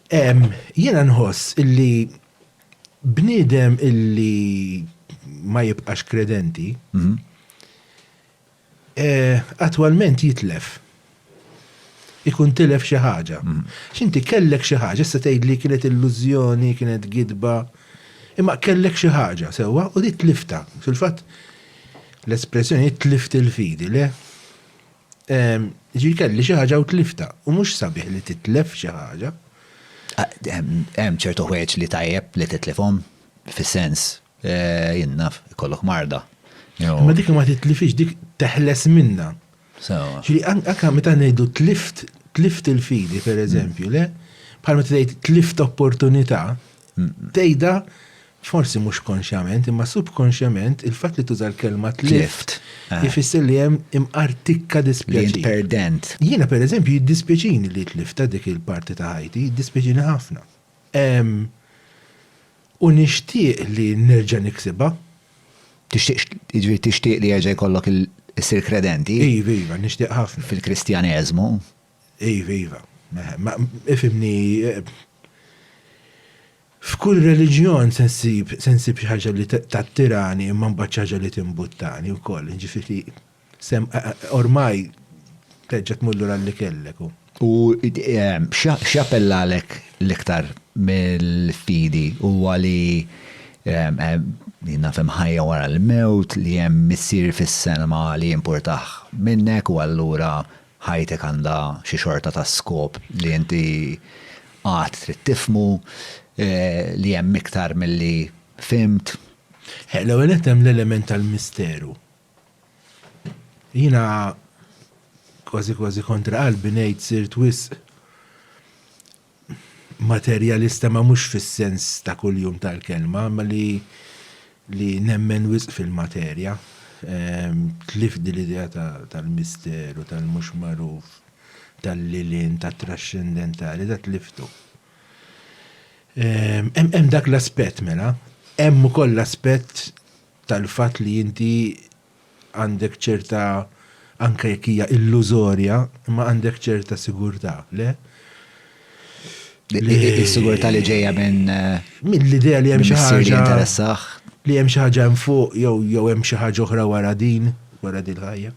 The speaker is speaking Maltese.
Jiena nħoss illi bniedem illi ma jibqax kredenti, attwalment jitlef. Ikun tilef xi ħaġa. Għax inti kellek xi ħaġa, issa tgħidli kienet illużjoni, kienet gidba, imma kellek xi ħaġa, sewwa, u dik tliftha. Fil-fatt, l-espressjoni tlift il-fidi, le? Jiġifieri kelli xi ħaġa u tliftha, u mhux sabiħ li titlef xi ħaġa. Hemm ċertu ħwejjeġ li tajjeb li titlifhom, fis-sens, jien naf, ikollok marda. Imma dik ma titlifhiex, dik teħles minnha. Sewwa. Ġifieri anke meta ngħidu tlift, tlift il-fidi, pereżempju, le? Bħal meta tgħid tlift opportunità. Tgħidha forsi mhux konxjament, imma subkonxjament il-fatt li tuża l-kelma tlift ifisser li hemm imqar tikka dispjaċir. Perdent. Jiena pereżempju jiddispjaċini li tlifta dik il-parti ta' ħajti, jiddispjaċini ħafna. U nixtieq li nerġa' niksibha. Tixtieq, jiġifieri tixtieq li jerġa' jkollok issir kredenti? Iva, iva, nixtieq ħafna. Fil-Kristjaneżmu. Iva, iva. Ma, ifhimni, f'kull reliġjon se nsib, se nsib xi ħaġa li tattirani imma mbagħad xi ħaġa li timbuttani wkoll. Jiġifieri, se, ormai terġa' tmur lura għal li kellek u. U x'jappellalek l-iktar mill-fidi huwa li, naf hemm ħajja wara l-mewt, li hemm Missier fis-Sema li jimpurtah minnek u allura ħajtek għandha xi xorta ta' skop li inti għad trid tifhmu, li hemm iktar milli fhimt. L-ewwel nett hemm l-element tal-misteru. Jiena kważi kważi kontra qalbi ngħid sirt wisq materjalista ma mhux fis-sens ta' kuljum tal-kelma imma li li nemmen wisq fil-materja. Tlift din l-idea tal-misteru, tal-mhux magħruf, tal-lil hinn, tat-traxxendentali, da tliftu. Hemm dak l-aspett mela, hemm ukoll l-aspett tal-fatt li inti għandek ċerta, anke jekk hija illużorja, imma għandek ċerta sigurtà, le? Is-sigurtà li ġejja minn. Minn l-idea li hemm xi ħaġa. Li hemm xi ħaġa hemm fuq jew hemm xi ħaġa oħra wara din, wara din ħajja.